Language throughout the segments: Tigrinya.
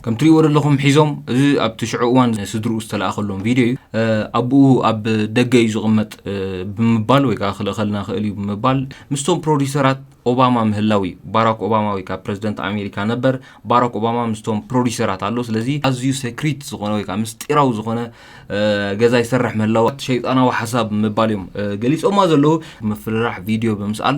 ከም ትሪእዎ ዘለኹም ሒዞም እዚ ኣብቲ ሽዑ እዋን ስድርኡ ዝተለኣኸሎም ቪድዮ እዩ ኣቦኡ ኣብ ደገ እዩ ዝቕመጥ ብምባል ወይ ከዓ ክልእኸልና ክእል እዩ ብምባል ምስቶም ፕሮዲሰራት ኦባማ ምህላው እዩ ባራክ ኦባማ ወይ ከዓ ፕረዚደንት ኣሜሪካ ነበር ባራክ ኦባማ ምስቶም ፕሮዲሰራት ኣሎ ስለዚ ኣዝዩ ሴክሪት ዝኾነ ወይ ከዓ ምስጢራዊ ዝኾነ ገዛ ይሰርሕ ምህላው ሸይጣናዊ ሓሳብ ምባል እዮም ገሊፆማ ዘለዉ ምፍርራሕ ቪድዮ ብምስኣል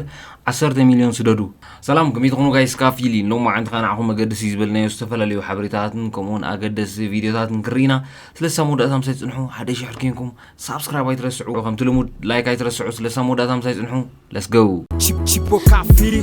ዓሰርተ ሚልዮን ስደዱ ሰላም ከመይ ትኾኑ ጋይስ ካፊሊ ሎም መዓንቲ ከዓ ንዓኹም መገድሲ ዝበልናዮ ዝተፈላለዩ ሓበሬታታትን ከምኡውን ኣገደሲ ቪድዮታትን ክንርኢ ኢና ስለሳ መወዳእታ ምሳይ ፅንሑ ሓደ ሽሕር ኮንኩም ሳብስክራይብ ኣይትረስዑ ከምቲ ልሙድ ላይክ ኣይትረስዑ ስለሳ መወዳእታ ምሳይ ፅንሑ ለስገው Chip, chip, o kafiri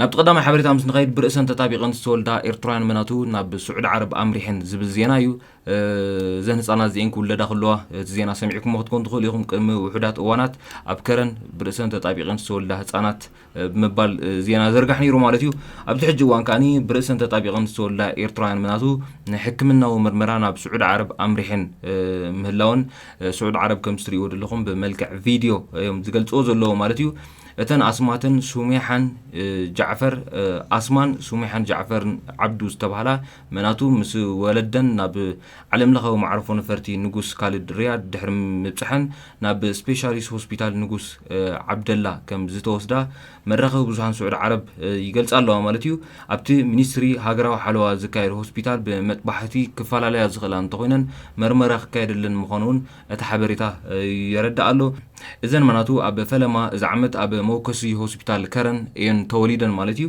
ናብቲ ቀዳማይ ሓበሬታ ምስ ንኸይድ ብርእሰን ተጣቢቐን ዝተወልዳ ኤርትራውያን መናቱ ናብ ስዑዲ ዓረብ ኣምሪሐን ዝብል ዜና እዩ። እዘን ህጻናት እዚኤን ክውለዳ ከለዋ እቲ ዜና ሰሚዕኩሞ ክትኮኑ ትኽእሉ ኢኹም። ቅድሚ ውሑዳት እዋናት ኣብ ከረን ብርእሰን ተጣቢቐን ዝተወልዳ ህጻናት ብምባል ዜና ዘርጋሕ ነይሩ ማለት እዩ። ኣብዚ ሕጂ እዋን ከኣ ብርእሰን ተጣቢቐን ዝተወልዳ ኤርትራውያን መናቱ ንሕክምናዊ ምርመራ ናብ ስዑዲ ዓረብ ኣምሪሐን ምህላወን ስዑዲ ዓረብ ከምዚ ትርእይዎ ዘለኹም ብመልክዕ ቪድዮ እዮም ዝገልጽዎ ዘለዉ ማለት እዩ። እተን ኣስማተን ሱሜሓን ጃዕፈር ኣስማን ሱሜሓን ጃዕፈር ዓብዱ ዝተባህላ መናቱ ምስ ወለደን ናብ ዓለምለኻዊ መዓርፎ ነፈርቲ ንጉስ ካልድ ሪያድ ድሕሪ ምብጽሐን ናብ ስፔሻሊስ ሆስፒታል ንጉስ ዓብደላ ከም ዝተወስዳ መራኸቢ ብዙሃን ስዑዲ ዓረብ ይገልጻ ኣለዋ ማለት እዩ። ኣብቲ ሚኒስትሪ ሃገራዊ ሓለዋ ዝካየድ ሆስፒታል ብመጥባሕቲ ክፈላለያ ዝኽእላ እንተኾይነን መርመራ ክካየደለን ምዃኑ'ውን እቲ ሓበሬታ የረድእ ኣሎ። እዘን ማናቱ ኣብ ፈለማ እዚ ዓመት ኣብ መወከሲ ሆስፒታል ከረን እየን ተወሊደን ማለት እዩ።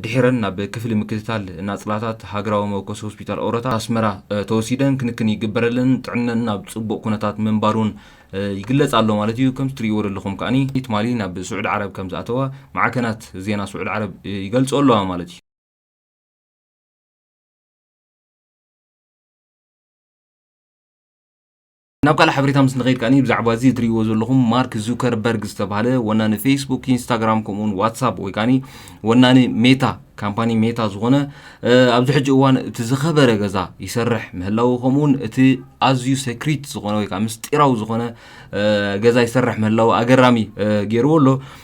ድሒረን ናብ ክፍሊ ምክትታል ናጽላታት ሃገራዊ መወከሲ ሆስፒታል ኦረታ ኣስመራ ተወሲደን ክንክን ይግበረለን፣ ጥዕነን ኣብ ጽቡቕ ኩነታት ምንባሩን ይግለጽ ኣሎ ማለት እዩ። ከምቲ ትርእይዎ ዘለኹም ከኣ ትማሊ ናብ ስዑዲ ዓረብ ከም ዝኣተዋ ማዕከናት ዜና ስዑዲ ዓረብ ይገልጽኦ ኣለዋ ማለት እዩ። ናብ ካልእ ሓበሬታ ምስ ንኸይድ ከኣ ብዛዕባ እዚ እትርእይዎ ዘለኹም ማርክ ዙከርበርግ ዝተባህለ ወናኒ ፌስቡክ፣ ኢንስታግራም ከምኡውን ዋትሳፕ ወይ ከኣ ወናኒ ሜታ ካምፓኒ ሜታ ዝኾነ ኣብዚ ሕጂ እዋን እቲ ዝኸበረ ገዛ ይሰርሕ ምህላው ከምኡውን እቲ ኣዝዩ ሴክሪት ዝኾነ ወይ ከዓ ምስጢራዊ ዝኾነ ገዛ ይሰርሕ ምህላው ኣገራሚ ገይርዎ ኣሎ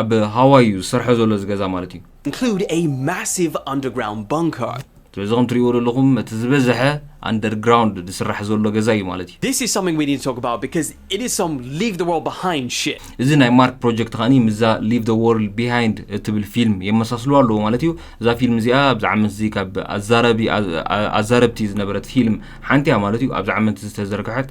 ኣብ ሃዋይ እዩ ዝሰርሖ ዘሎ እዚ ገዛ ማለት እዩ። include a massive underground bunker. ስለዚ ከም ትሪእዎ ዘለኹም እቲ ዝበዝሐ ኣንደርግራውንድ ዝስራሕ ዘሎ ገዛ እዩ ማለት እዩ። This is something we need to talk about because it is some leave the world behind shit. እዚ ናይ ማርክ ፕሮጀክት ከኣኒ ምስዛ ሊቭ ዘ ዎርልድ ቢሃይንድ እትብል ፊልም የመሳስልዋ ኣለዎ ማለት እዩ። እዛ ፊልም እዚኣ ኣብዚ ዓመት እዚ ካብ ኣዛረቢ ኣዛረብቲ ዝነበረት ፊልም ሓንቲ እያ ማለት እዩ። ኣብዚ ዓመት ዝተዘርግሐት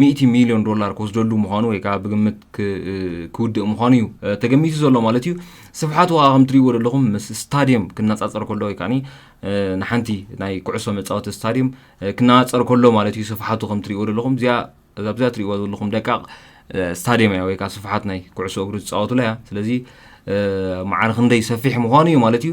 ሚእቲ ሚልዮን ዶላር ክወስደሉ ምዃኑ ወይ ከዓ ብግምት ክውድእ ምዃኑ እዩ ተገሚቱ ዘሎ ማለት እዩ ስፍሓት ዋጋ ከም ትሪእዎ ዘለኹም ምስ ስታድየም ክነፃፀር ከሎ ወይ ከዓ ንሓንቲ ናይ ኩዕሶ መፃወቲ ስታድየም ክነፃፀር ከሎ ማለት እዩ ስፍሓቱ ከም ትሪእዎ ዘለኹም እዚኣ ኣብዛ ትሪእዎ ዘለኹም ደቃቕ ስታድየም እያ ወይ ከዓ ስፍሓት ናይ ኩዕሶ እግሪ ዝፃወቱላ እያ ስለዚ መዓር ክንደይ ሰፊሕ ምዃኑ እዩ ማለት እዩ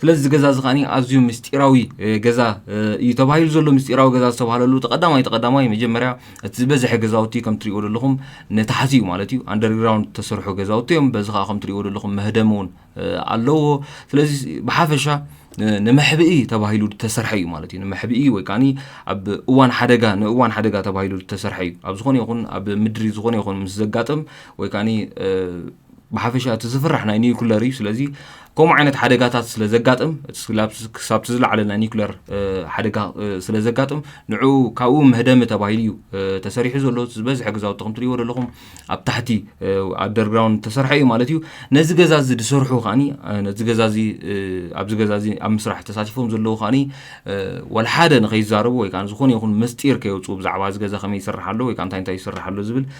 ስለዚ እዚ ገዛ እዚ ከኣ ኣዝዩ ምስጢራዊ ገዛ እዩ ተባሂሉ ዘሎ ምስጢራዊ ገዛ ዝተባሃለሉ ተቐዳማይ ተቐዳማይ መጀመርያ እቲ ዝበዝሐ ገዛውቲ ከም ትሪእዎ ዘለኹም ንታሕቲ እዩ ማለት እዩ ኣንደርግራውንድ ዝተሰርሑ ገዛውቲ እዮም በዚ ከዓ ከም ትሪእዎ ዘለኹም መህደሚ እውን ኣለዎ ስለዚ ብሓፈሻ ንመሕብኢ ተባሂሉ ዝተሰርሐ እዩ ማለት እዩ ንመሕብኢ ወይ ከዓ ኣብ እዋን ሓደጋ ንእዋን ሓደጋ ተባሂሉ ዝተሰርሐ እዩ ኣብ ዝኾነ ይኹን ኣብ ምድሪ ዝኾነ ይኹን ምስ ዘጋጥም ወይ ከዓ ብሓፈሻ እቲ ዝፍራሕ ናይ ኒውክለር እዩ ስለዚ ከምኡ ዓይነት ሓደጋታት ስለ ዘጋጥም ክሳብቲ ዝለዓለ ናይ ኒውክለር ሓደጋ ስለ ዘጋጥም ንዑ ካብኡ መህደሚ ተባሂሉ እዩ ተሰሪሑ ዘሎ ዝበዝሐ ገዛውቲ ከም ትሪእዎ ዘለኹም ኣብ ታሕቲ ኣደርግራውንድ ተሰርሐ እዩ ማለት እዩ ነዚ ገዛ እዚ ዝሰርሑ ከዓኒ ነዚ ገዛ እዚ ኣብዚ ገዛ እዚ ኣብ ምስራሕ ተሳቲፎም ዘለዉ ከዓኒ ዋላ ሓደ ንኸይዛረቡ ወይ ከዓ ዝኾነ ይኹን ምስጢር ከየውፅኡ ብዛዕባ እዚ ገዛ ከመይ ይስራሕ ኣሎ ወይ ከዓ እንታይ እንታይ ይስራሕ ኣሎ ዝብል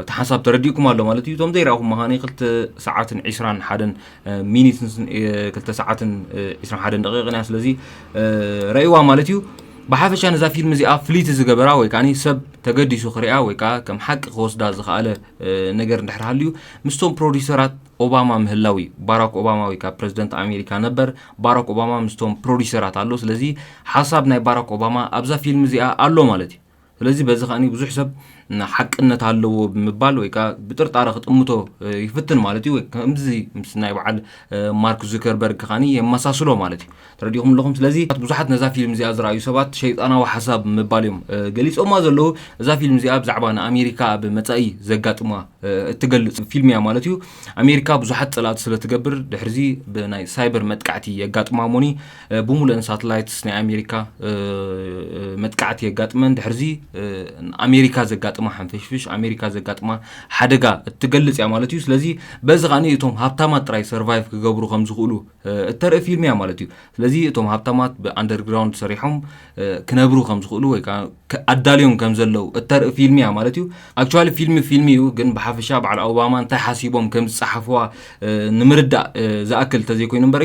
እቲ ሓንሳብ ተረዲእኩም ኣሎ ማለት እዩ እቶም ዘይረኣኹም መኻኒ ክልተ ሰዓትን ዒስራን ሓደን ሚኒትን ክልተ ሰዓትን ዒስራን ሓደን ደቂቕን እያ ስለዚ ረእይዋ ማለት እዩ ብሓፈሻ ነዛ ፊልም እዚኣ ፍልይቲ ዝገበራ ወይ ከዓ ሰብ ተገዲሱ ክርያ ወይ ከዓ ከም ሓቂ ክወስዳ ዝኸኣለ ነገር እንድሕር ሃልዩ ምስቶም ፕሮዲሰራት ኦባማ ምህላው እዩ ባራክ ኦባማ ወይ ከዓ ፕረዚደንት ኣሜሪካ ነበር ባራክ ኦባማ ምስቶም ፕሮዲሰራት ኣሎ ስለዚ ሓሳብ ናይ ባራክ ኦባማ ኣብዛ ፊልም እዚኣ ኣሎ ማለት እዩ ስለዚ በዚ ከኣ ብዙሕ ሰብ ሓቅነት ኣለዎ ብምባል ወይ ከዓ ብጥርጣረ ክጥምቶ ይፍትን ማለት እዩ ከምዚ ምስ ናይ በዓል ማርክ ዙከርበርግ ከዓ የመሳስሎ ማለት እዩ ተረዲኹም ኣለኹም ስለዚ ብዙሓት ነዛ ፊልም እዚኣ ዝረኣዩ ሰባት ሸይጣናዊ ሓሳብ ምባል እዮም ገሊፆማ ዘለዉ እዛ ፊልም እዚኣ ብዛዕባ ንኣሜሪካ ኣብ መፃኢ ዘጋጥማ እትገልፅ ፊልም እያ ማለት እዩ ኣሜሪካ ብዙሓት ፀላእቲ ስለትገብር ድሕርዚ ብናይ ሳይበር መጥቃዕቲ የጋጥማ ሞኒ ብሙሉእን ሳትላይትስ ናይ ኣሜሪካ መጥቃዕቲ የጋጥመን ድሕርዚ ኣሜሪካ ዘጋጥማ ሓንፈሽፍሽ ኣሜሪካ ዘጋጥማ ሓደጋ እትገልጽ እያ ማለት እዩ ስለዚ በዚ ከዓ እቶም ሃብታማት ጥራይ ሰርቫይቭ ክገብሩ ከም ዝኽእሉ እተርኢ ፊልም እያ ማለት እዩ ስለዚ እቶም ሃብታማት ብኣንደርግራውንድ ሰሪሖም ክነብሩ ከም ዝኽእሉ ወይ ከዓ ኣዳልዮም ከም ዘለው እተርኢ ፊልም እያ ማለት እዩ ኣክቹዋሊ ፊልም ፊልም እዩ ግን ብሓፈሻ በዓል ኦባማ እንታይ ሓሲቦም ከም ዝፀሓፍዋ ንምርዳእ ዝኣክል እንተዘይኮይኑ እምበሪ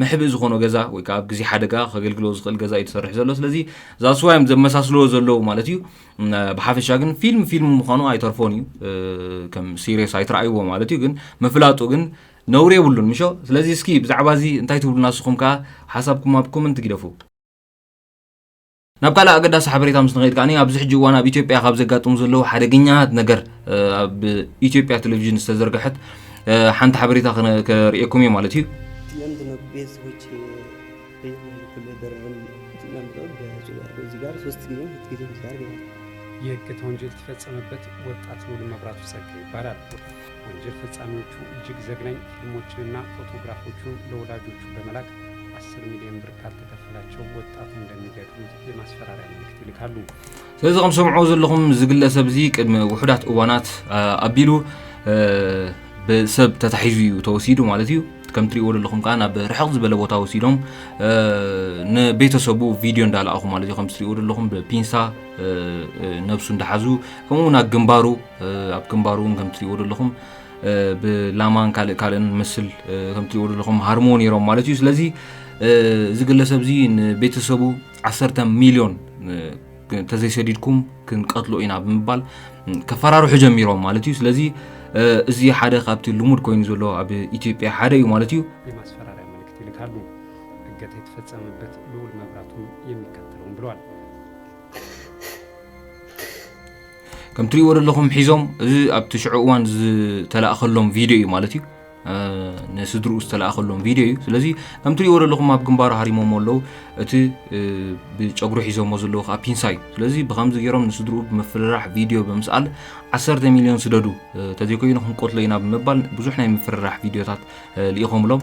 መሕብኢ ዝኾኖ ገዛ ወይ ከዓ ኣብ ግዜ ሓደጋ ከገልግሎ ዝኽእል ገዛ እዩ ተሰርሑ ዘሎ ስለዚ ዛስ ዋይ እዮም ዘመሳስልዎ ዘለዉ ማለት እዩ ብሓፈሻ ግን ፊልም ፊልም ምዃኑ ኣይተርፎን እዩ ከም ሲሪየስ ኣይትረኣይዎ ማለት እዩ ግን ምፍላጡ ግን ነውሪ የብሉን ምሾ ስለዚ እስኪ ብዛዕባ እዚ እንታይ ትብሉና ንስኹም ከዓ ሓሳብኩም ኣብ ኮመንት ግደፉ ናብ ካልእ ኣገዳሲ ሓበሬታ ምስ ንኸይድ ከኣ ኣብዚ ሕጂ እዋን ኣብ ኢትዮጵያ ካብ ዘጋጥሙ ዘለዉ ሓደገኛት ነገር ኣብ ኢትዮጵያ ቴሌቪዥን ዝተዘርግሐት ሓንቲ ሓበሬታ ከርእየኩም እየ ማለት እዩ የእገታ ወንጀል የተፈጸመበት ወጣት ሙሉ መብራቱ ጸጋ ይባላል። ወንጀል ፈጻሚዎቹ እጅግ ዘግናኝ ፊልሞችንና ፎቶግራፎቹን ለወላጆቹ በመላክ 10 ሚሊዮን ብር ካልተ ክከፍላቸው ወጣቱ እንደሚገጥም የማስፈራሪያ መልእክት ይልካሉ። ስለዚ ከም ሰምዕዎ ዘለኹም ዝግለሰብ እዚ ቅድሚ ውሑዳት እዋናት ኣቢሉ ብሰብ ተታሒዙ እዩ ተወሲዱ ማለት እዩ ከም ትሪእዎ ዘለኹም ከዓ ናብ ርሕቕ ዝበለ ቦታ ወሲዶም ንቤተሰቡ ቪድዮ እንዳለኣኹ ማለት እዩ ከም ትሪእዎ ዘለኹም ብፒንሳ ነብሱ እንዳሓዙ ከምኡ ናብ ግንባሩ ኣብ ግንባሩ እውን ከም ትሪእዎ ዘለኹም ብላማን ካልእ ካልእን ምስል ከምትሪእዎ ዘለኹም ሃርሞ ነይሮም ማለት እዩ ስለዚ እዚ ግለሰብ እዚ ንቤተሰቡ 1 ሚሊዮን ተዘይሰዲድኩም ክንቀትሎ ኢና ብምባል ከፈራርሑ ጀሚሮም ማለት እዩ ስለዚ እዚ ሓደ ካብቲ ልሙድ ኮይኑ ዘሎ ኣብ ኢትዮጵያ ሓደ እዩ ማለት እዩ የማስፈራሪያ መልእክት ይልካሉ እገታ የተፈጸመበት ልዑል መብራቱም የሚከተለውን ብለዋል ከም ትሪእዎ ዘለኹም ሒዞም እዚ ኣብቲ ሽዑ እዋን ዝተላእኸሎም ቪድዮ እዩ ማለት እዩ ንስድርኡ ዝተላእኸሎም ቪድዮ እዩ ስለዚ ከም ትሪእዎ ዘለኹም ኣብ ግንባሩ ሃሪሞሞ ኣለዉ እቲ ብጨጉሪ ሒዞሞ ዘለዉ ከዓ ፒንሳ እዩ ስለዚ ብከምዚ ገይሮም ንስድርኡ ብምፍርራሕ ቪድዮ ብምስኣል 1 ሚልዮን ስደዱ ተዘይኮይኑ ክንቆትሎ ኢና ብምባል ብዙሕ ናይ ምፍርራሕ ቪድዮታት ልኢኾምሎም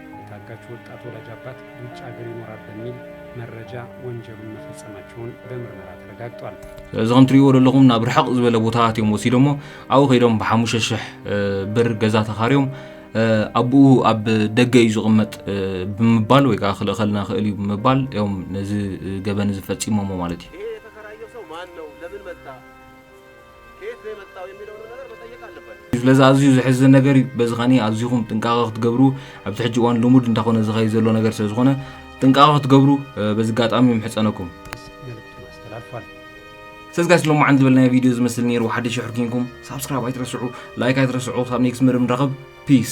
የታጋች ወጣት ወላጅ አባት ውጭ ሀገር ይኖራል በሚል መረጃ ወንጀሉን መፈጸማቸውን በምርመራ ተረጋግጧል። እዚ ከም ትሪእዎ ዘለኹም ናብ ርሕቕ ዝበለ ቦታታት እዮም ወሲዶሞ ኣብኡ ከይዶም ብሓሙሽተ ሽሕ ብር ገዛ ተኻርዮም ኣብኡ ኣብ ደገ እዩ ዝቕመጥ ብምባል ወይ ከዓ ክልእኸልና ክእል እዩ ብምባል እዮም ነዚ ገበን እዚ ፈፂሞሞ ማለት እዩ። ስለዚ ኣዝዩ ዘሕዝን ነገር እዩ። በዚ ከኒ ኣዚኹም ጥንቃቐ ክትገብሩ ኣብዚ ሕጂ እዋን ልሙድ እንታኾነ ዝኸይድ ዘሎ ነገር ስለ ዝኾነ ጥንቃቐ ክትገብሩ በዚ ኣጋጣሚ ምሕጸነኩም። ስለዚ ጋይስ ሎማዓን ዝበልናዮ ቪድዮ ዝመስል ነይሩ ሓደ ሽሕ ርኪንኩም ሳብስክራይብ ኣይትረስዑ ላይክ ኣይትረስዑ ክሳብ ኔክስት መደብ ንራኸብ ፒስ